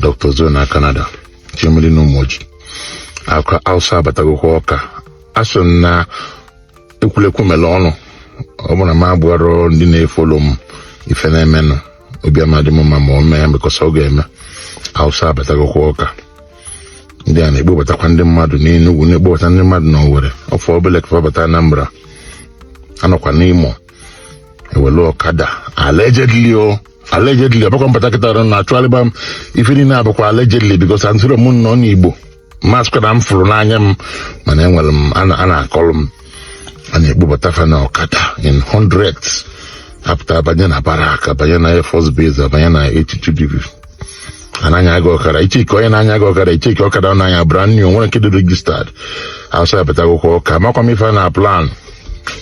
Dr. Joe na Canada Chimelie na Ụmụoji akwa Hausa abatagokwa Ọka asị m na ekwulekwu mere ọnụ ọ bụrụ na m agwarọ ndị na-efollow m ife na-emenụ obi ama adị m mma ma o mee because ọ ga-eme Hausa abatagokwa Ọka ndị a na-ekpobatakwa ndị mmadụ n'Enugwu na-ekpobata ndị mmadụ na Owerri ọ fọ obele ka fa bata Anambra anọkwa n'Imo ewelu ọkada allegedly o allegedly ọ bụkwa m bata kịta ọ bụrụ na achọgharịba m ife niile a bụkwa allegedly because anọrọ m n'Igbo m asịkwa na m fụrụ n'anya m mana enwere m a na- a na-akọrọ m a na-ekpobata fa na ọkada in hundreds apụta banye na barrack banye na air force base abanye na eighty-two div anaghị aga ọkara icheke onye na-anya aga ọkara icheke ọkada ọ na-anya brand new enwerọ nke dị registered asị ya pụta akwụkwọ ọka amakwa m ife a na plan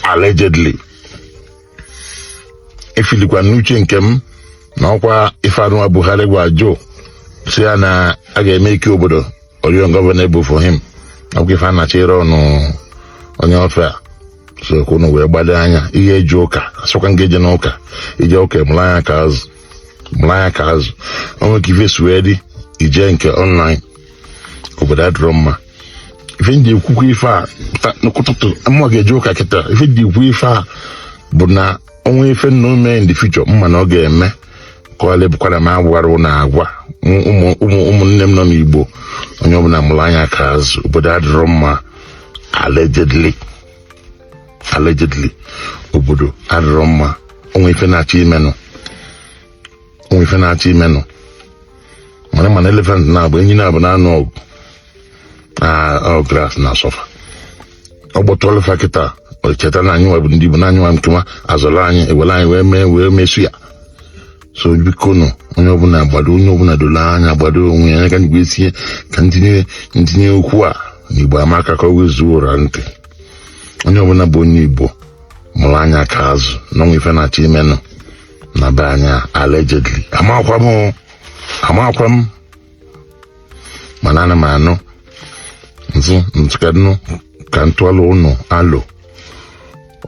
allegedly efeelikwa m n'uche nke m na ọkwa ife anụwa Buhari gwa Joe sị ya na a ga-emake obodo ungovernable for him ọkwa ife a na-achọ ịrụ ọnụ onye ofe a so ka unu wee gbado anya ị ya-eje ụka asịkwa m gị ejena ụka i je ụka ị mụrụ anya ka azụ mụrụ anya ka azụ o nwe ka ife si wee dị i je nke online obodo adịrọ mma ife m ji ekwukwa ife a n'ụtụtụ m ga-eje ụka kịta ife m ji ekwu ife a bụ na o nwe ife na-eme in the future m ma na ọ ga-eme ka ọ ghalụ ịbụkwanụ m agwarọ na agwa ụmụnne m nọ n'Igbo onye ọbụla mụrụ anya ka azụ obodo adịrọ mma allegedly allegedly obodo adịrọ mma o nwe ife na-achọ imenụ nwe ife na-achọ imenụ mana mana elephant naabọ enyi naabọ na-anụ ọgụ na ọ grass na-asuffer ọ gbọtụ ele fa kịta o cheta na anyị nwa bụ ndị Igbo na anyị nwa nkewa azọrọ anyị ewere anyị wee mee wee mesu ya so biko nụ onye ọbụla gbado onye ọbụla doro anya gbado onwe ya anya ka m ji wee tinye ka m tinye m tinye okwu a n'Igbo amaka ka ọ wee zuo ọra ntị onye ọbụla bụ onye Igbo mụrụ anya ka azụ na o nwe ife na-achọ imenụ na be anyị a, allegedly amakwa m o, amakwa m mana ana m anụ m sị m sịkenụ ka m tụọlụ ụnụ alo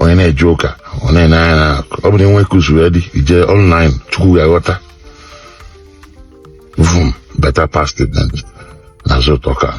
onye na-eje ụka ọ na-ene anya na ọ bụ na o nwe ka o si wee dị i je online Chukwu ga-aghọta vum better pass statement na so you talk am